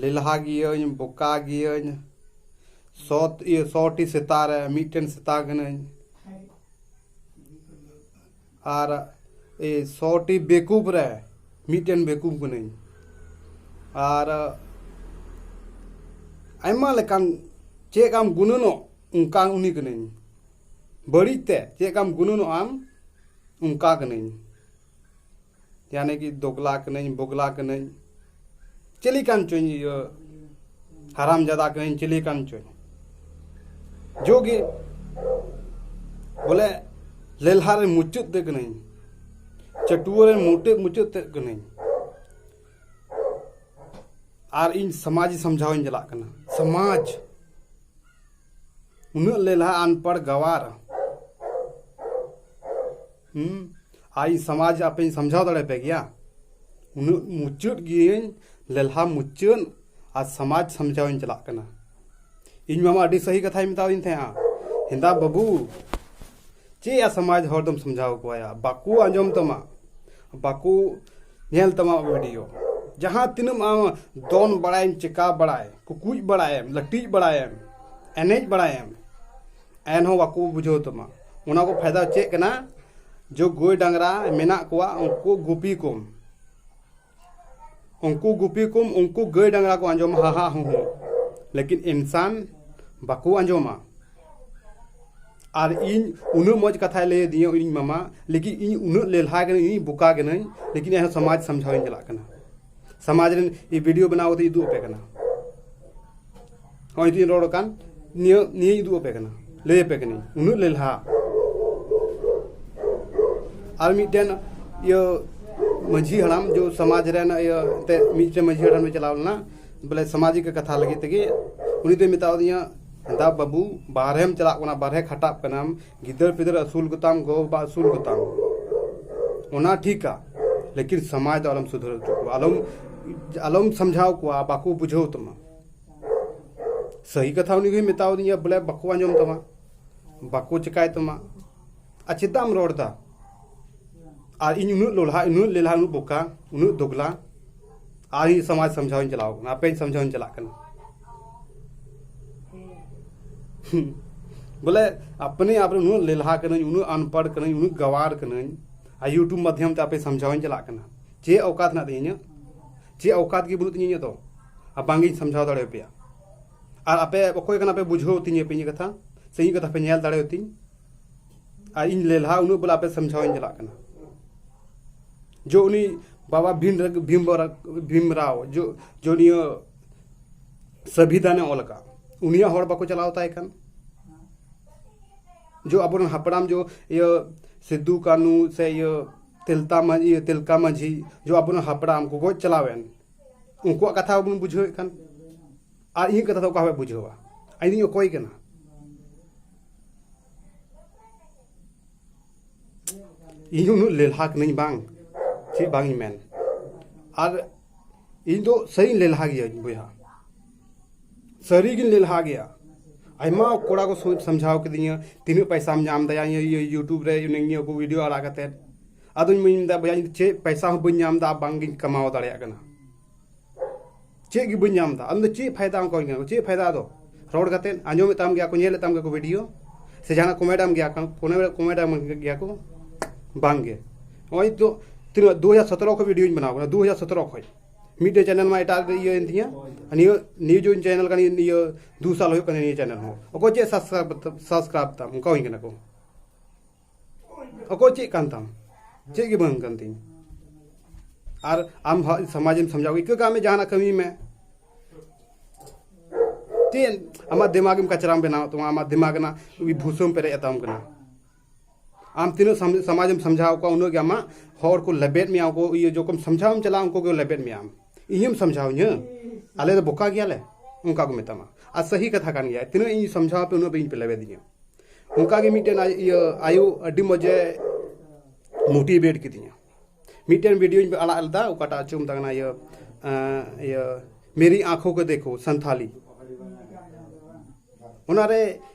ᱞᱮᱞᱦᱟ ᱜᱤᱭᱟᱹᱧ ᱵᱚᱠᱟ ᱜᱤᱭᱟᱹᱧ ᱥᱚ ᱤᱭᱟᱹ ᱥᱚᱴᱤ ᱥᱮᱛᱟ ᱨᱮ ᱢᱤᱫᱴᱮᱱ ᱥᱮᱛᱟ ᱠᱟᱹᱱᱟᱹᱧ ᱟᱨ ᱮ ᱥᱚᱴᱤ ᱵᱮᱠᱩᱵ ᱨᱮ ᱢᱤᱫᱴᱮᱱ ᱵᱮᱠᱩᱵ ᱠᱟᱹᱱᱟᱹᱧ ᱟᱨ ᱟᱭᱢᱟ ᱞᱮᱠᱟᱱ ᱪᱮᱫ ᱟᱢ ᱜᱩᱱᱟᱹᱱᱚᱜ ᱚᱱᱠᱟ ᱩᱱᱤ ᱠᱟᱹᱱᱟᱹᱧ ᱵᱟᱹᱲᱤᱡ ᱛᱮ ᱪᱮᱫ ᱞᱮᱠᱟᱢ ᱜᱩᱱᱟᱹᱱᱚᱜ ᱟᱢ ᱚᱱᱠᱟ ᱠᱟᱹᱱᱟᱹᱧ ᱭᱟᱱᱮ ᱠᱤ ᱫᱚᱜᱽᱞᱟ ᱠᱟᱹᱱᱟᱹᱧ ᱵᱚᱜᱽᱞᱟ ᱠᱟᱹᱱᱟᱹᱧ ᱪᱤᱞᱤ ᱠᱟᱱ ᱪᱚᱧ ᱤᱭᱟᱹ ᱦᱟᱨᱟᱢ ᱡᱟᱫᱟ ᱠᱟᱹᱱᱟᱹᱧ ᱪᱤᱞᱤ ᱠᱟᱱ ᱪᱚᱧ ᱡᱳᱜᱤ ᱵᱚᱞᱮ ᱞᱮᱞᱦᱟ ᱨᱮ ᱢᱩᱪᱟᱹᱫ ᱛᱮ ᱠᱟᱹᱱᱟᱹᱧ ᱪᱟᱹᱴᱩᱣᱟᱹ ᱨᱮ ᱢᱩᱴᱟᱹᱫ ᱢᱩᱪᱟᱹᱫ ᱛᱮ ᱠᱟᱹᱱᱟᱹᱧ ᱟᱨ ᱤᱧ ᱥᱚᱢᱟᱡᱽ ᱥᱚᱢᱡᱷᱟᱣ ᱤᱧ ᱪᱟᱞᱟᱜ ᱠᱟᱱᱟ ᱥᱚᱢᱟᱡᱽ ᱩᱱᱟᱹᱜ ᱞᱮᱞᱦᱟ ᱟᱱᱯᱟᱲ ᱜᱟᱣᱟᱨ ᱦᱩᱸ ᱟᱨ ᱤᱧ ᱥᱚᱢᱟᱡᱽ ᱟᱯᱮᱧ ᱥᱚᱢᱡᱷᱟᱣ ᱫᱟᱲᱮ ᱯᱮ ᱜᱮᱭᱟ ᱩᱱᱟᱹᱜ ᱢᱩᱪᱟᱹᱫ ᱜᱤᱭᱟᱹᱧ ᱞᱮᱞᱦᱟ ᱢᱩᱪᱟᱹᱫ ᱟᱨ ᱥᱚᱢᱟᱡᱽ ᱥᱚᱢᱡᱷᱟᱣ ᱤᱧ ᱪᱟᱞᱟᱜ ᱠᱟᱱᱟ ᱤᱧ ᱢᱟᱢᱟ ᱟᱹᱰᱤ ᱥᱟᱹᱦᱤ ᱠᱟᱛᱷᱟᱭ ᱢᱮᱛᱟᱣᱤᱧ ᱛᱟᱦᱮᱸᱜᱼᱟ ᱦᱮᱸᱫᱟ ᱵᱟᱹᱵᱩ ᱪᱮᱫ ᱭᱟ ᱥᱚᱢᱟᱡᱽ ᱦᱚᱲ ᱫᱚᱢ ᱥᱚᱢᱡᱷᱟᱣ ᱠᱚᱣᱟᱭᱟ ᱵᱟᱠᱚ ᱟᱸᱡᱚᱢ ᱛᱟᱢᱟ ᱵᱟᱠᱚ ᱧᱮᱞ ᱛᱟᱢᱟ ᱵᱷᱤᱰᱤᱭᱳ ᱡᱟᱦᱟᱸ ᱛᱤᱱᱟᱹᱜ ᱟᱢ ᱫᱚᱱ ᱵᱟᱲᱟᱭᱮᱢ ᱪᱮᱠᱟ ᱵᱟᱲᱟᱭ ᱠᱩᱠᱩᱡ ᱵᱟᱲᱟᱭᱮᱢ ᱞᱟᱹᱴᱤᱡ ᱵᱟᱲᱟᱭᱮᱢ ᱮᱱᱮᱡ ᱵᱟᱲᱟᱭᱮᱢ ᱮᱱᱦᱚᱸ ᱵᱟᱠᱚ ᱵᱩᱡᱷᱟᱹᱣ ᱛᱟᱢᱟ ᱚᱱᱟ ᱠᱚ ᱯᱷᱟᱭᱫᱟ ᱪᱮᱫ ᱠᱟᱱᱟ ᱡᱮ ᱜᱟᱹᱭ ᱰᱟᱝᱨᱟ ᱢᱮᱱᱟᱜ ᱠᱚᱣᱟ ᱩᱱᱠᱩ ᱜᱩᱯᱤ ᱠᱚᱢ ᱩᱱᱠᱩ ᱜᱩᱯᱤ ᱠᱚᱢ ᱩᱱᱠᱩ ᱜᱟᱹᱭ ᱰᱟᱝᱨᱟ ᱠᱚ ᱟᱸᱡᱚᱢᱟ ᱦᱟ ᱦᱟ ᱦᱩ ᱦᱩ ᱞᱮᱠᱤᱱ ᱤᱱᱥᱟᱱ ᱵᱟᱠᱚ ᱟᱸᱡᱚᱢᱟ ᱟᱨ ᱤᱧ ᱩᱱᱟᱹᱜ ᱢᱚᱡᱽ ᱠᱟᱛᱷᱟᱭ ᱞᱟᱹᱭ ᱟᱹᱫᱤᱧᱟ ᱤᱧ ᱢᱟᱢᱟ ᱞᱮᱠᱤᱱ ᱤᱧ ᱩᱱᱟᱹᱜ ᱞᱮᱞᱦᱟ ᱜᱮᱭᱟᱹᱧ ᱵᱚᱠᱟ ᱜᱮᱭᱟᱹᱧ ᱞᱮᱠᱤᱱ ᱮᱱᱦᱚᱸ ᱥᱚᱢᱟᱡᱽ ᱥᱟᱢᱡᱷᱟᱣ ᱤᱧ ᱪᱟᱞᱟᱜ ᱠᱟᱱᱟ ᱥᱟᱢᱟᱡᱽ ᱨᱮᱱ ᱤ ᱵᱷᱤᱰᱤᱭᱳ ᱵᱮᱱᱟᱣ ᱠᱟᱛᱮ ᱩᱫᱩᱜ ᱟᱯᱮ ᱠᱟᱱᱟ ᱦᱚᱸᱜᱼᱚᱭ ᱛᱤᱧ ᱨᱚᱲ ᱠᱟᱱ ᱱᱤᱭᱟᱹ ᱱᱤᱭᱟᱹ ᱩᱫᱩᱜ ᱟᱯᱮ ᱠᱟᱱᱟ ᱞᱟᱹᱭ ᱟᱯᱮ ᱠᱟᱹᱱᱟᱹᱧ ᱩᱱᱟᱹᱜ ᱞᱮᱞᱦᱟ ᱟᱨ ᱢᱤᱫᱴᱮᱱ ᱤᱭᱟᱹ ᱢᱟᱹᱡᱷᱤ ᱦᱟᱲᱟᱢ ᱡᱚ ᱥᱚᱢᱟᱡᱽ ᱨᱮᱱ ᱤᱭᱟᱹ ᱛᱮ ᱢᱤᱫᱴᱮᱱ ᱢᱟᱹᱡᱷᱤ ᱦᱟᱲᱟᱢ ᱮ ᱪᱟᱞᱟᱣ ᱞᱮᱱᱟ ᱵᱚᱞᱮ ᱥᱟᱢᱟᱡᱤᱠ ᱠᱟᱛᱷᱟ ᱞᱟᱹᱜᱤᱫ ᱛᱮᱜᱮ ᱩᱱᱤ ᱫᱚᱭ ᱢᱮᱛᱟᱣᱫᱤᱧᱟ ᱫᱟ ᱵᱟᱹᱵᱩ ᱵᱟᱨᱦᱮᱢ ᱪᱟᱞᱟᱜ ᱠᱟᱱᱟ ᱵᱟᱨᱦᱮ ᱠᱷᱟᱴᱟᱜ ᱠᱟᱱᱟᱢ ᱜᱤᱫᱟᱹᱨ ᱯᱤᱫᱟᱹᱨ ᱟᱹᱥᱩᱞ ᱠᱚᱛᱟᱢ ᱜᱚ ᱵᱟᱵᱟ ᱟᱹᱥᱩᱞ ᱠᱚᱛᱟᱢ ᱚᱱᱟ ᱴᱷᱤᱠᱟ ᱞᱮᱠᱤᱱ ᱥᱚᱢᱟᱡᱽ ᱫᱚ ᱟᱞᱚᱢ ᱥᱩᱫᱷᱟᱹᱨ ᱦᱚᱪᱚ ᱠᱚᱣᱟ ᱟᱞᱚᱢ ᱟᱞᱚᱢ ᱥᱟᱢᱡᱷᱟᱣ ᱠᱚᱣᱟ ᱵᱟᱠᱚ ᱵᱩᱡᱷᱟᱹᱣ ᱛᱟᱢᱟ ᱥᱟᱹᱦᱤ ᱠᱟᱛᱷᱟ ᱩᱱᱤ ᱜᱮᱭ ᱢᱮᱛᱟᱣ ᱫᱤᱧᱟ ᱵᱚᱞᱮ ᱵᱟᱠᱚ ᱟᱸᱡᱚᱢ ᱛᱟᱢᱟ ᱵᱟᱠᱚ ᱪᱤᱠᱟᱹᱭ ᱛᱟᱢᱟ ᱟᱨ ᱪᱮᱫᱟᱜ ᱮᱢ ᱨᱚᱲ ᱮᱫᱟ ᱟᱨ ᱤᱧ ᱩᱱᱟᱹᱜ ᱞᱚᱞᱦᱟ ᱩᱱᱟᱹᱜ ᱞᱮᱞᱦᱟ ᱩᱱᱟᱹᱜ ᱵᱚᱠᱟ ᱩᱱᱟᱹᱜ ᱫᱚᱜᱽᱞᱟ ᱟᱨ ᱤᱧ ᱥᱚᱢᱟᱡᱽ ᱥᱚᱢᱡᱷᱟᱣᱤᱧ ᱪᱟᱞᱟᱣ ᱠᱟᱱᱟ ᱟᱯᱮᱧ ᱥᱚᱢᱡᱷᱟᱣᱤᱧ ᱪᱟᱞᱟᱜ ᱠᱟᱱᱟ ᱵᱚᱞᱮ ᱟᱯᱱᱮ ᱟᱯᱱᱮ ᱩᱱᱟᱹᱜ ᱞᱮᱞᱦᱟ ᱠᱟᱹᱱᱟᱹᱧ ᱩᱱᱟᱹᱜ ᱟᱱᱯᱟᱲ ᱠᱟᱹᱱᱟᱹᱧ ᱩᱱᱟᱹᱜ ᱜᱟᱣᱟᱨ ᱠᱟᱹᱱᱟᱹᱧ ᱟᱨ ᱤᱭᱩᱴᱩᱵᱽ ᱢᱟᱫᱽᱫᱷᱚᱢ ᱛᱮ ᱟᱯᱮ ᱥᱚᱢᱡᱷᱟᱣᱤᱧ ᱪᱟᱞᱟᱜ ᱠᱟᱱᱟ ᱪᱮᱫ ᱚᱠᱟᱛ ᱦᱮᱱᱟᱜ ᱛᱤᱧᱟ ᱤᱧᱟᱹᱜ ᱪᱮᱫ ᱚᱠᱟᱛ ᱜᱮ ᱵᱟᱹᱱᱩᱜ ᱛᱤᱧᱟ ᱤᱧᱟᱹᱜ ᱫᱚ ᱟᱨ ᱵᱟᱝᱜᱤᱧ ᱥᱚᱢᱡᱷᱟᱣ ᱫᱟᱲᱮᱭᱟᱯᱮᱭᱟ ᱟᱨ ᱟᱯᱮ ᱚᱠᱚᱭ ᱠᱟᱱᱟ ᱯᱮ ᱵᱩᱡᱷᱟᱹᱣ ᱛᱤᱧᱟᱹ ᱯᱮ ᱤᱧᱟᱹᱜ ᱠᱟᱛᱷᱟ ᱥᱮ ᱤᱧᱟᱹᱜ ᱠᱟᱛᱷᱟ ᱯᱮ ᱧᱮᱞ ᱫᱟᱲᱮᱭᱟᱛᱤᱧ ᱟᱨ ᱤᱧ ᱞᱮᱞᱦᱟ ᱩᱱᱟᱹᱜ ᱵᱚᱞᱮ ᱟᱯᱮ ᱥᱟᱢᱡᱷᱟᱣᱤᱧ ᱪᱟᱞᱟᱜ ᱠᱟᱱᱟ ᱡᱚ ᱩᱱᱤ ᱵᱟᱵᱟ ᱵᱷᱤᱢ ᱵᱷᱤᱢ ᱵᱷᱤᱢ ᱨᱟᱣ ᱡᱚ ᱡᱚ ᱱᱤᱭᱟᱹ ᱥᱟᱵᱤᱫᱟᱱᱮ ᱚᱞ ᱟᱠᱟᱫ ᱩᱱᱤᱭᱟᱜ ᱦᱚᱲ ᱵᱟᱠᱚ ᱪᱟᱞᱟᱣ ᱛᱟᱭ ᱠᱟᱱ ᱡᱚ ᱟᱵᱚᱨᱮᱱ ᱦᱟᱯᱲᱟᱢ ᱡᱚ ᱤᱭᱟᱹ ᱥᱤᱫᱩ ᱠᱟᱹᱱᱩ ᱥᱮ ᱤᱭᱟᱹ ᱛᱮᱞᱛᱟ ᱢᱟᱹᱡᱷᱤ ᱛᱮᱞᱠᱟ ᱢᱟᱹᱡᱷᱤ ᱡᱚ ᱟᱵᱚᱨᱮᱱ ᱦᱟᱯᱲᱟᱢ ᱠᱚ ᱜᱚᱡ ᱪᱟᱞᱟᱣᱮᱱ ᱩᱱᱠᱩᱣᱟᱜ ᱠᱟᱛᱷᱟ ᱵᱚᱱ ᱵᱩᱡᱷᱟᱹᱣᱮᱫ ᱠᱟᱱ ᱟᱨ ᱤᱧᱟᱹᱜ ᱠᱟᱛᱷᱟ ᱫᱚ ᱚᱠᱟ ᱦᱚᱸ ᱵᱟᱭ ᱵᱩᱡᱷᱟᱹᱣᱟ ᱤᱧ ᱚᱠᱚᱭ ᱠᱟᱱᱟ ᱤᱧ ᱩᱱᱟᱹᱜ ᱞᱮᱞᱦᱟ ᱠᱟᱹᱱᱟᱹᱧ ᱵᱟᱝ ᱪᱮᱫ ᱵᱟᱝ ᱤᱧ ᱢᱮᱱ ᱟᱨ ᱤᱧ ᱫᱚ ᱥᱟᱹᱨᱤᱧ ᱞᱮᱞᱦᱟ ᱜᱮᱭᱟᱹᱧ ᱵᱚᱭᱦᱟ ᱥᱟᱹᱨᱤᱜᱤᱧ ᱞᱮᱞᱦᱟ ᱜᱮᱭᱟ ᱟᱭᱢᱟ ᱠᱚᱲᱟ ᱠᱚ ᱥᱟᱢᱡᱷᱟᱣ ᱠᱤᱫᱤᱧᱟ ᱛᱤᱱᱟᱹᱜ ᱯᱟᱭᱥᱟᱢ ᱧᱟᱢ ᱫᱟᱭᱟ ᱤᱭᱩᱴᱩᱵᱽ ᱨᱮ ᱱᱤᱭᱟᱹ ᱠᱚ ᱵᱷᱤᱰᱤᱭᱳ ᱟᱲᱟᱜ ᱠᱟᱛᱮ ᱟᱫᱚᱧ ᱢᱮᱱᱫᱟ ᱵᱚᱭᱦᱟ ᱤᱧ ᱪᱮᱫ ᱯᱟᱭᱥᱟ ᱦᱚᱸ ᱵᱟᱹᱧ ᱧᱟᱢ ᱮᱫᱟ ᱵᱟᱝᱜᱤᱧ ᱠᱟᱢᱟᱣ ᱫᱟᱲᱮᱭᱟᱜ ᱠᱟᱱᱟ ᱪᱮᱫ ᱜᱮ ᱵᱟᱹᱧ ᱧᱟᱢ ᱮᱫᱟ ᱟᱢ ᱫᱚ ᱪᱮᱫ ᱯᱷᱟᱭᱫᱟ ᱟᱢ ᱠᱚᱧ ᱧᱟᱢᱟ ᱪᱮᱫ ᱯᱷᱟᱭᱫᱟ ᱟᱫᱚ ᱨᱚᱲ ᱠᱟᱛᱮ ᱟᱸᱡᱚᱢᱮᱫ ᱛᱟᱢ ᱜᱮᱭᱟ ᱠᱚ ᱧᱮᱞᱮᱫ ᱛᱟᱢ ᱜᱮᱭᱟ ᱠᱚ ᱵᱷᱤᱰᱤᱭᱳ ᱥᱮ ᱡᱟᱦᱟᱱᱟᱜ ᱠᱚᱢᱮᱰ ᱟᱢ ᱜᱮᱭᱟ ᱠᱚᱢᱮᱰ ᱟᱢ ᱜᱮᱭᱟ ᱠᱚ ᱵᱟᱝ ᱜᱮ ᱱᱚᱜᱼᱚᱭ ᱛᱚ ᱛᱤᱱᱟᱹᱜ ᱫᱩ ᱦᱟᱡᱟᱨ ᱥᱚᱛᱮᱨᱚ ᱠᱷᱚᱱ ᱵᱷᱤᱰᱤᱭᱳᱧ ᱵᱮᱱᱟᱣ ᱠᱟᱱᱟ ᱫᱩ ᱦᱟᱡᱟᱨ ᱥᱚᱛᱮᱨᱚ ᱠᱷᱚᱱ ᱢᱤᱫᱴᱮᱡ ᱪᱮᱱᱮᱞ ᱢᱟ ᱮᱴᱟᱜ ᱤᱭᱟᱹ ᱮᱱ ᱛᱤᱧᱟᱹ ᱱᱤᱭᱟᱹ ᱱᱤᱭᱩᱡᱽ ᱚᱱ ᱪᱮᱱᱮᱞ ᱠᱟᱱᱟ ᱤᱭᱟᱹ ᱫᱩ ᱥᱟᱞ ᱦᱩᱭᱩᱜ ᱠᱟᱱᱟ ᱱᱤᱭᱟᱹ ᱪᱮᱱᱮᱞ ᱦᱚᱸ ᱚᱠᱚᱭ ᱪᱮᱫ ᱥᱟᱵᱥᱠᱨᱟᱭᱤᱵᱽ ᱛᱟᱢ ᱚᱱᱠᱟ ᱦᱩᱭ ᱠᱟᱱᱟ ᱠᱚ ᱚᱠᱚᱭ ᱪᱮᱫ ᱠᱟᱱ ᱛᱟᱢ ᱪᱮᱫ ᱜᱮ ᱵᱟᱝ ᱠᱟᱱ ᱛᱤᱧ ᱟᱨ ᱟᱢ ᱥᱚᱢᱟᱡᱮᱢ ᱥᱟᱢᱡᱟᱣ ᱤᱠᱟᱹ ᱠᱟᱜ ᱢᱮ ᱡᱟᱦᱟᱱᱟᱜ ᱠᱟᱹᱢᱤ ᱢᱮ ᱪᱮᱫ ᱟᱢᱟᱜ ᱫᱤᱢᱟᱜᱮᱢ ᱠᱟᱪᱨᱟᱢ ᱵᱮᱱᱟᱣ ᱛᱟᱢᱟ ᱟᱢᱟᱜ ᱫᱤᱢᱟᱜ ᱨᱮᱱᱟᱜ ᱵᱷᱩᱥᱟᱹᱢ ᱯᱮᱨᱮᱡ ᱟᱛᱟᱢ ᱠᱟᱱᱟ ᱟᱢ ᱛᱤᱱᱟᱹᱜ ᱥᱚᱢᱟᱡᱮᱢ ᱥᱟᱢᱡᱷᱟᱣ ᱠᱚᱣᱟ ᱩᱱᱟᱹᱜ ᱜᱮ ᱟᱢᱟᱜ ᱦᱚᱲ ᱠᱚ ᱞᱮᱵᱮᱫ ᱢᱮᱭᱟ ᱩᱱᱠᱩ ᱤᱭᱟᱹ ᱡᱚᱠᱷᱚᱱ ᱥᱟᱢᱡᱷᱟᱣᱮᱢ ᱪᱟᱞᱟᱜᱼᱟ ᱩᱱᱠᱩ ᱠᱚ ᱞᱮᱵᱮᱫ ᱢᱮᱭᱟ ᱟᱢ ᱤᱧᱮᱢ ᱥᱚᱢᱡᱷᱟᱣ ᱤᱧᱟᱹ ᱟᱞᱮ ᱫᱚ ᱵᱚᱠᱟ ᱜᱮᱭᱟᱞᱮ ᱚᱱᱠᱟ ᱠᱚ ᱢᱮᱛᱟᱢᱟ ᱟᱨ ᱥᱟᱹᱦᱤ ᱠᱟᱛᱷᱟ ᱠᱟᱱ ᱜᱮᱭᱟ ᱛᱤᱱᱟᱹᱜ ᱤᱧ ᱥᱚᱢᱡᱷᱟᱣ ᱟᱯᱮ ᱩᱱᱟᱹᱜ ᱯᱮ ᱤᱧ ᱯᱮ ᱞᱮᱵᱮᱫᱤᱧᱟ ᱚᱱᱠᱟ ᱜᱮ ᱢᱤᱫᱴᱮᱱ ᱤᱭᱟᱹ ᱟᱭᱳ ᱟᱹᱰᱤ ᱢᱚᱡᱮ ᱢᱳᱴᱤᱵᱷᱮᱴ ᱠᱤᱫᱤᱧᱟ ᱢᱤᱫᱴᱮᱱ ᱵᱷᱤᱰᱤᱭᱳᱧ ᱟᱲᱟᱜ ᱞᱮᱫᱟ ᱚᱠᱟᱴᱟᱜ ᱪᱚ ᱢᱮᱛᱟᱜ ᱠᱟᱱᱟ ᱤᱭᱟᱹ ᱤᱭᱟᱹ ᱢᱮᱨᱤ ᱟᱸᱠᱷᱳ ᱠᱚ ᱫᱮᱠᱷᱳ ᱥᱟᱱᱛᱷᱟᱞᱤ ᱚᱱᱟᱨᱮ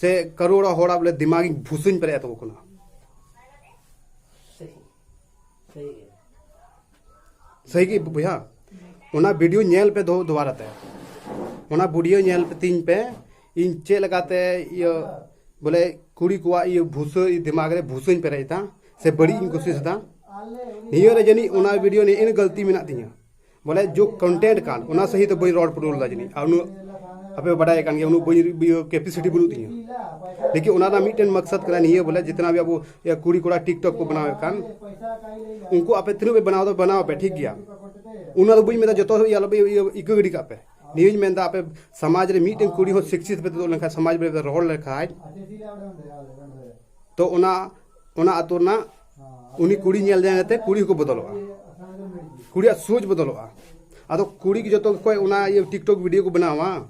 ᱥᱮ ᱠᱟᱨᱳᱲᱟ ᱦᱚᱲᱟᱜ ᱵᱚᱞᱮ ᱫᱤᱢᱟᱜ ᱤᱧ ᱵᱷᱩᱥᱩᱧ ᱯᱮᱨᱮᱡ ᱛᱟᱠᱚ ᱠᱟᱱᱟ ᱥᱟᱹᱦᱤ ᱜᱮ ᱵᱚᱭᱦᱟ ᱚᱱᱟ ᱵᱷᱤᱰᱤᱭᱳ ᱧᱮᱞ ᱯᱮ ᱫᱚ ᱫᱚᱵᱟᱨᱟ ᱛᱮ ᱚᱱᱟ ᱵᱷᱤᱰᱤᱭᱳ ᱧᱮᱞ ᱯᱮ ᱛᱤᱧ ᱯᱮ ᱤᱧ ᱪᱮᱫ ᱞᱮᱠᱟᱛᱮ ᱤᱭᱟᱹ ᱵᱚᱞᱮ ᱠᱩᱲᱤ ᱠᱚᱣᱟᱜ ᱤᱭᱟᱹ ᱵᱷᱩᱥᱟᱹ ᱫᱤᱢᱟᱜ ᱨᱮ ᱵᱷᱩᱥᱟᱹᱧ ᱯᱮᱨᱮᱡ ᱮᱫᱟ ᱥᱮ ᱵᱟᱹᱲᱤᱡ ᱤᱧ ᱠᱩᱥᱤᱥ ᱮᱫᱟ ᱱᱤᱭᱟᱹ ᱨᱮ ᱡᱟᱹᱱᱤᱡ ᱚᱱᱟ ᱵᱷᱤᱰᱤᱭᱳ ᱱᱤᱭᱟᱹ ᱜᱟᱹᱞᱛᱤ ᱢᱮᱱᱟᱜ ᱛᱤᱧᱟ ᱵᱚᱞᱮ ᱡᱳ ᱠᱚᱱᱴᱮᱱᱴ ᱠᱟᱱ ᱚᱱᱟ ᱥᱟᱹᱦᱤ ᱫᱚ ᱵᱟᱹᱧ ᱨᱚᱲ ᱯᱩᱨᱟᱹᱣ ᱞᱮᱫᱟ ᱡᱟᱹᱱᱤᱡ ᱟᱨ ᱩᱱᱟᱹᱜ ᱟᱯᱮ ᱵᱟᱰᱟᱭ ᱠᱟᱱ ᱜᱮᱭᱟ ᱩᱱᱟᱹᱜ ᱵᱟᱹᱧ ᱠᱮᱯᱮᱥᱤᱴᱤ ᱵᱟᱹᱱᱩᱜ ᱛᱤᱧᱟᱹ ᱞᱮᱠᱤᱱ ᱚᱱᱟ ᱨᱮᱱᱟᱜ ᱢᱤᱫᱴᱮᱱ ᱢᱟᱠᱥᱟᱫ ᱠᱟᱱᱟ ᱱᱤᱭᱟᱹ ᱵᱚᱞᱮ ᱡᱤᱛᱱᱟ ᱵᱷᱤ ᱟᱵᱚ ᱠᱩᱲᱤ ᱠᱚᱲᱟ ᱴᱤᱠᱴᱚᱠ ᱠᱚ ᱵᱮᱱᱟᱣᱮᱫ ᱠᱟᱱ ᱩᱱᱠᱩ ᱟᱯᱮ ᱛᱤᱱᱟᱹᱜ ᱯᱮ ᱵᱮᱱᱟᱣ ᱫᱚ ᱵᱮᱱᱟᱣ ᱯᱮ ᱴᱷᱤᱠ ᱜᱮᱭᱟ ᱚᱱᱟ ᱫᱚ ᱵᱟᱹᱧ ᱢᱮᱱᱫᱟ ᱡᱚᱛᱚ ᱤᱭᱟᱹ ᱟᱞᱚᱯᱮ ᱤᱠᱟᱹ ᱜᱤᱰᱤ ᱠᱟᱜ ᱯᱮ ᱱᱤᱭᱟᱹᱧ ᱢᱮᱱᱫᱟ ᱟᱯᱮ ᱥᱚᱢᱟᱡᱽ ᱨᱮ ᱢᱤᱫᱴᱮᱱ ᱠᱩᱲᱤ ᱦᱚᱸ ᱥᱤᱠᱥᱤᱛ ᱯᱮ ᱛᱩᱫᱩᱜ ᱞᱮᱱᱠᱷᱟᱱ ᱥᱚᱢᱟᱡᱽ ᱨᱮ ᱨᱚᱲ ᱞᱮᱠᱷᱟᱱ ᱛᱚ ᱚᱱᱟ ᱚᱱᱟ ᱟᱛᱳ ᱨᱮᱱᱟᱜ ᱩᱱᱤ ᱠᱩᱲᱤ ᱧᱮᱞ ᱡᱟᱭ ᱠᱟᱛᱮ ᱠᱩᱲᱤ ᱦᱚᱸᱠᱚ ᱵᱚᱫᱚᱞᱚᱜᱼᱟ ᱠᱩᱲᱤᱭᱟᱜ ᱥᱳᱪ ᱵᱚᱫᱚᱞᱚᱜᱼᱟ ᱟᱫᱚ ᱠᱩᱲᱤ ᱜᱮ ᱡᱚᱛᱚ ᱠᱚ ᱚᱱᱟ ᱤᱭᱟᱹ ᱴᱤᱠᱴᱚᱠ ᱵᱷᱤᱰᱤᱭᱳ ᱠᱚ ᱵᱮᱱᱟᱣᱟ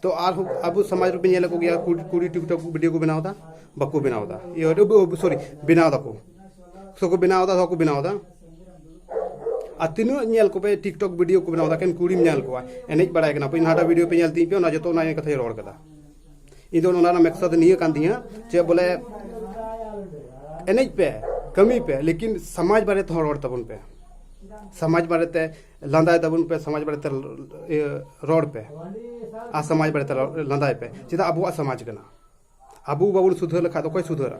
ᱛᱚ ᱟᱨ ᱟᱵᱚ ᱥᱚᱢᱟᱡᱽ ᱨᱮᱯᱮ ᱧᱮᱞ ᱠᱚ ᱜᱮᱭᱟ ᱠᱩᱲᱤ ᱠᱩᱲᱤ ᱴᱤᱠᱴᱚᱠ ᱵᱷᱤᱰᱤᱭᱳ ᱠᱚ ᱵᱮᱱᱟᱣ ᱫᱟ ᱵᱟᱠᱚ ᱵᱮᱱᱟᱣ ᱫᱟ ᱤᱭᱟᱹ ᱥᱚᱨᱤ ᱵᱮᱱᱟᱣ ᱫᱟᱠᱚ ᱥᱚᱠᱚ ᱵᱮᱱᱟᱣ ᱫᱟ ᱥᱚᱠᱚ ᱵᱮᱱᱟᱣ ᱫᱟ ᱟᱨ ᱛᱤᱱᱟᱹᱜ ᱧᱮᱞ ᱠᱚᱯᱮ ᱴᱤᱠᱴᱚᱠ ᱵᱷᱤᱰᱤᱭᱳ ᱠᱚ ᱵᱮᱱᱟᱣ ᱫᱟ ᱠᱮᱱ ᱠᱩᱲᱤᱢ ᱧᱮᱞ ᱠᱚᱣᱟ ᱮᱱᱮᱡ ᱵᱟᱲᱟᱭ ᱠᱟᱱᱟ ᱯᱮ ᱱᱟᱦᱟᱴᱟᱜ ᱵᱷᱤᱰᱤᱭᱳ ᱯᱮ ᱧᱮᱞ ᱛᱤᱧ ᱯᱮ ᱚᱱᱟ ᱡᱚᱛᱚ ᱚᱱᱟ ᱠᱟᱛᱷᱟᱧ ᱨᱚᱲ ᱠᱟᱫᱟ ᱤᱧ ᱫᱚ ᱚᱱᱟ ᱨᱮᱱᱟᱜ ᱢᱮᱠᱥᱟᱫ ᱱᱤᱭᱟᱹ ᱠᱟᱱ ᱛᱤᱧᱟᱹ ᱪᱮᱫ ᱵᱚᱞᱮ ᱮᱱᱮᱡ ᱯᱮ ᱠᱟᱹᱢᱤ ᱯᱮ ᱞᱮᱠᱤᱱ ᱥᱚᱢᱟᱡᱽ ᱵᱟᱨᱮ ᱛᱮᱦᱚᱸ ᱨᱚᱲ ᱛᱟᱵᱚᱱ ᱯᱮ ᱥᱚᱢᱟᱡᱽ ᱵᱟᱨᱮ ᱛᱮ ᱞᱟᱸᱫᱟᱭ ᱛᱟᱵᱚᱱ ᱯᱮ ᱥᱚᱢᱟᱡᱽ ᱵᱟᱨᱮ ᱛᱮ ᱨᱚᱲ ᱯᱮ ᱟᱨ ᱥᱚᱢᱟᱡᱽ ᱵᱟᱨᱮ ᱛᱮ ᱞᱟᱸᱫᱟᱭ ᱯᱮ ᱪᱮᱫᱟᱜ ᱟᱵᱚᱣᱟᱜ ᱥᱚᱢᱟᱡᱽ ᱠᱟᱱᱟ ᱟᱵᱚ ᱵᱟᱵᱚᱱ ᱥᱩᱫᱷᱟᱹᱨ ᱞᱮᱠᱷᱟᱡ ᱫᱚ ᱚᱠᱚᱭ ᱥᱩᱫᱷᱟᱹᱨᱟ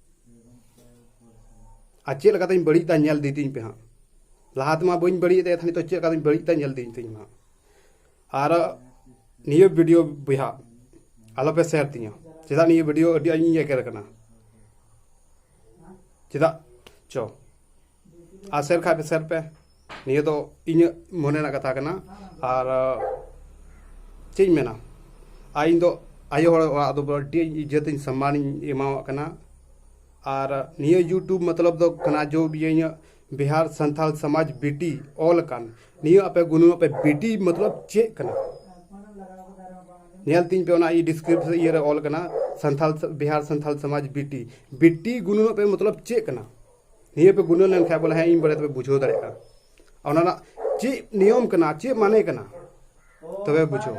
ᱟᱨ ᱪᱮᱫ ᱞᱮᱠᱟ ᱛᱤᱧ ᱵᱟᱹᱲᱤᱡ ᱫᱟ ᱧᱮᱞ ᱤᱫᱤ ᱛᱤᱧ ᱯᱮ ᱦᱟᱸᱜ ᱞᱟᱦᱟ ᱛᱮᱢᱟ ᱵᱟᱹᱧ ᱵᱟᱹᱲᱤᱡ ᱮᱫ ᱛᱟᱦᱮᱸ ᱱᱤᱛᱚᱜ ᱪᱮᱫ ᱞᱮᱠᱟ ᱛᱤᱧ ᱵᱟᱹᱲᱤᱡ ᱫᱟ ᱧᱮᱞ ᱤᱫᱤ ᱛᱤᱧ ᱦᱟᱸᱜ ᱟᱨ ᱱᱤᱭᱟᱹ ᱵᱷᱤᱰᱤᱭᱳ ᱵᱚᱭᱦᱟ ᱟᱞᱚᱯᱮ ᱥᱮᱭᱟᱨ ᱛᱤᱧᱟ ᱪᱮᱫᱟᱜ ᱱᱤᱭᱟᱹ ᱵᱷᱤᱰᱤᱭᱳ ᱟᱹᱰᱤ ᱟᱸᱴᱤᱧ ᱮᱜᱮᱨ ᱠᱟᱱᱟ ᱪᱮᱫᱟᱜ ᱪᱚ ᱟᱨ ᱥᱮᱨ ᱠᱷᱟᱡ ᱯᱮ ᱥᱮᱨ ᱯᱮ ᱱᱤᱭᱟᱹ ᱫᱚ ᱤᱧᱟᱹᱜ ᱢᱚᱱᱮ ᱨᱮᱱᱟᱜ ᱠᱟᱛᱷᱟ ᱠᱟᱱᱟ ᱟᱨ ᱪᱮᱫ ᱤᱧ ᱢᱮᱱᱟ ᱟᱨ ᱤᱧ ᱫᱚ ᱟᱭᱳ ᱦᱚᱲ ᱚᱲᱟᱜ ᱫᱚ ᱟᱹᱰᱤ ᱤᱡᱽᱡᱚᱛ ᱤᱧ ᱥᱚᱱᱢᱟᱱ ᱤᱧ ᱮᱢᱟᱣᱟᱜ ᱠᱟᱱᱟ ᱟᱨ ᱱᱤᱭᱟᱹ ᱤᱭᱩᱴᱩᱵᱽ ᱢᱚᱛᱞᱚᱵ ᱫᱚ ᱠᱟᱱᱟ ᱡᱚ ᱤᱧᱟᱹᱜ ᱵᱤᱦᱟᱨ ᱥᱟᱱᱛᱟᱞ ᱥᱚᱢᱟᱡᱽ ᱵᱤᱴᱤ ᱚᱞ ᱟᱠᱟᱱ ᱱᱤᱭᱟᱹ ᱟᱯᱮ ᱜᱩᱱᱩ ᱟᱯᱮ ᱵᱤᱴᱤ ᱢᱚᱛᱞᱚᱵ ᱪᱮᱫ ᱠᱟᱱᱟ ᱧᱮᱞ ᱛᱤᱧ ᱯᱮ ᱚᱱᱟ ᱰᱤᱥᱠᱨᱤᱯᱥᱚᱱ ᱤᱭᱟᱹ ᱨᱮ ᱚᱞ ᱠᱟᱱᱟ ᱥᱟᱱᱛᱟᱞ ᱵᱤᱦᱟᱨ ᱥᱟᱱᱛᱟᱞ ᱥᱚᱢᱟᱡᱽ ᱵᱤᱴᱤ ᱵᱤᱴᱤ ᱜᱩᱱᱩ ᱟᱯᱮ ᱢᱚᱛᱞᱚᱵ ᱪᱮᱫ ᱠᱟᱱᱟ ᱱᱤᱭᱟᱹ ᱯᱮ ᱜᱩᱱᱟᱹ ᱞᱮᱱᱠᱷᱟᱱ ᱵᱚᱞᱮ ᱦᱮᱸ ᱤᱧ ᱵᱟᱨᱮ ᱛᱮᱯᱮ ᱵᱩᱡᱷᱟᱹᱣ ᱫᱟᱲᱮᱭᱟᱜᱼᱟ ᱚᱱᱟ ᱨᱮᱱᱟᱜ ᱪᱮᱫ ᱱᱤᱭᱚᱢ ᱠᱟᱱᱟ ᱪᱮᱫ ᱢᱟᱱᱮ ᱠᱟᱱᱟ ᱛᱚᱵᱮ ᱵᱩᱡᱷᱟᱹᱣ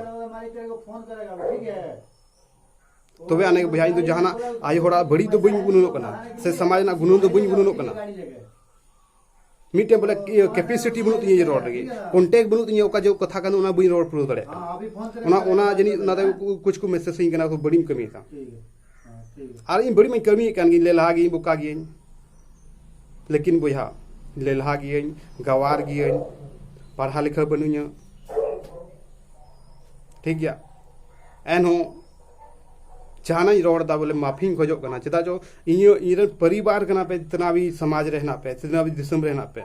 ᱛᱚᱵᱮ ᱟᱱᱮ ᱵᱚᱭᱦᱟ ᱤᱧ ᱫᱚ ᱡᱟᱦᱟᱱᱟᱜ ᱟᱭᱳ ᱦᱚᱲᱟᱜ ᱵᱟᱹᱲᱤᱡ ᱫᱚ ᱵᱟᱹᱧ ᱜᱩᱱᱟᱹᱱᱚᱜ ᱠᱟᱱᱟ ᱥᱮ ᱥᱚᱢᱟᱡᱽ ᱨᱮᱱᱟᱜ ᱜᱩᱱᱟᱹᱱ ᱫᱚ ᱵᱟᱹᱧ ᱜᱩᱱᱟᱹᱱᱚᱜ ᱠᱟᱱᱟ ᱢᱤᱫᱴᱮᱱ ᱵᱚᱞᱮ ᱠᱮᱯᱮᱥᱤᱴᱤ ᱵᱟᱹᱱᱩᱜ ᱛᱤᱧᱟᱹ ᱨᱚᱲ ᱞᱟᱹᱜᱤᱫ ᱠᱚᱱᱴᱮᱠ ᱵᱟᱹᱱᱩᱜ ᱛᱤᱧᱟᱹ ᱚᱠᱟ ᱡᱚᱜ ᱠᱟᱛᱷᱟ ᱠᱟᱱᱟ ᱚᱱᱟ ᱵᱟᱹᱧ ᱨᱚᱲ ᱯᱩᱨᱟᱹᱣ ᱫᱟᱲᱮᱭᱟᱜ ᱠᱟᱱᱟ ᱚᱱᱟ ᱚᱱᱟ ᱡᱟᱹᱱᱤᱡ ᱚᱱᱟᱨᱮ ᱠᱩᱪ ᱠᱚ ᱢᱮᱥᱮᱡᱽ ᱤᱧ ᱠᱟᱱᱟ ᱵᱟᱹᱲᱤᱡ ᱠᱟᱹᱢᱤᱭᱮᱫᱟ ᱟᱨ ᱤᱧ ᱵᱟᱹᱲᱤᱡ ᱢᱟᱧ ᱠᱟᱹᱢᱤᱭᱮᱫ ᱠᱟᱱ ᱜᱤᱧ ᱞᱮᱞᱦᱟ ᱜᱤᱭᱟᱹᱧ ᱵᱚᱠᱟ ᱜᱤᱭᱟᱹᱧ ᱞᱮᱠᱤᱱ ᱵᱚᱭᱦᱟ ᱞᱮᱞᱦᱟ ᱜᱤᱭᱟᱹᱧ ᱜᱟᱣᱟᱨ ᱜᱤᱭᱟᱹᱧ ᱯᱟᱲᱦᱟᱣ ᱞᱮᱠᱷᱟ ᱵᱟᱹᱱᱩᱧᱟ ᱴᱷᱤᱠ ᱜᱮᱭᱟ ᱮᱱᱦᱚᱸ ᱡᱟᱦᱟᱱᱟᱜ ᱤᱧ ᱨᱚᱲ ᱮᱫᱟ ᱵᱚᱞᱮ ᱢᱟᱯᱷᱤᱧ ᱠᱷᱚᱡᱚᱜ ᱠᱟᱱᱟ ᱪᱮᱫᱟᱜ ᱪᱚ ᱤᱧ ᱤᱧᱨᱮᱱ ᱯᱚᱨᱤᱵᱟᱨ ᱠᱟᱱᱟ ᱯᱮ ᱛᱤᱱᱟᱹᱜ ᱥᱚᱢᱟᱡᱽ ᱨᱮ ᱦᱮᱱᱟᱜ ᱯᱮ ᱛᱤᱱᱟᱹᱜ ᱫᱤᱥᱚᱢ ᱨᱮ ᱦᱮᱱᱟᱜ ᱯᱮ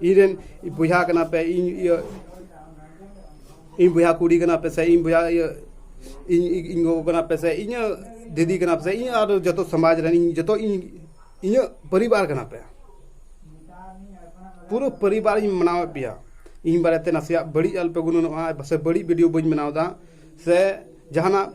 ᱤᱧ ᱨᱮᱱ ᱵᱚᱭᱦᱟ ᱠᱟᱱᱟ ᱯᱮ ᱤᱧ ᱤᱭᱟᱹ ᱤᱧ ᱵᱚᱭᱦᱟ ᱠᱩᱲᱤ ᱠᱟᱱᱟ ᱯᱮ ᱥᱮ ᱤᱧ ᱵᱚᱭᱦᱟ ᱤᱭᱟᱹ ᱤᱧ ᱤᱧ ᱜᱚᱜᱚ ᱠᱟᱱᱟ ᱯᱮ ᱥᱮ ᱤᱧᱟᱹᱜ ᱫᱤᱫᱤ ᱠᱟᱱᱟ ᱯᱮ ᱥᱮ ᱤᱧ ᱟᱨ ᱡᱚᱛᱚ ᱥᱚᱢᱟᱡᱽ ᱨᱮᱱ ᱤᱧ ᱡᱚᱛᱚ ᱤᱧ ᱤᱧᱟᱹᱜ ᱯᱚᱨᱤᱵᱟᱨ ᱠᱟᱱᱟ ᱯᱮ ᱯᱩᱨᱟᱹ ᱯᱚᱨᱤᱵᱟᱨ ᱤᱧ ᱢᱟᱱᱟᱣᱮᱫ ᱯᱮᱭᱟ ᱤᱧ ᱵᱟᱨᱮᱛᱮ ᱱᱟᱥᱮᱭᱟᱜ ᱵᱟᱹᱲᱤᱡ ᱟᱞᱚᱯᱮ ᱜᱩᱱᱟᱹᱱᱚᱜᱼᱟ ᱥᱮ ᱵᱟᱹᱲᱤᱡ ᱵᱷᱤᱰᱤᱭᱳ ᱵᱟᱹᱧ ᱵᱮᱱᱟᱣᱫᱟ ᱥᱮ ᱡᱟᱦᱟᱱᱟᱜ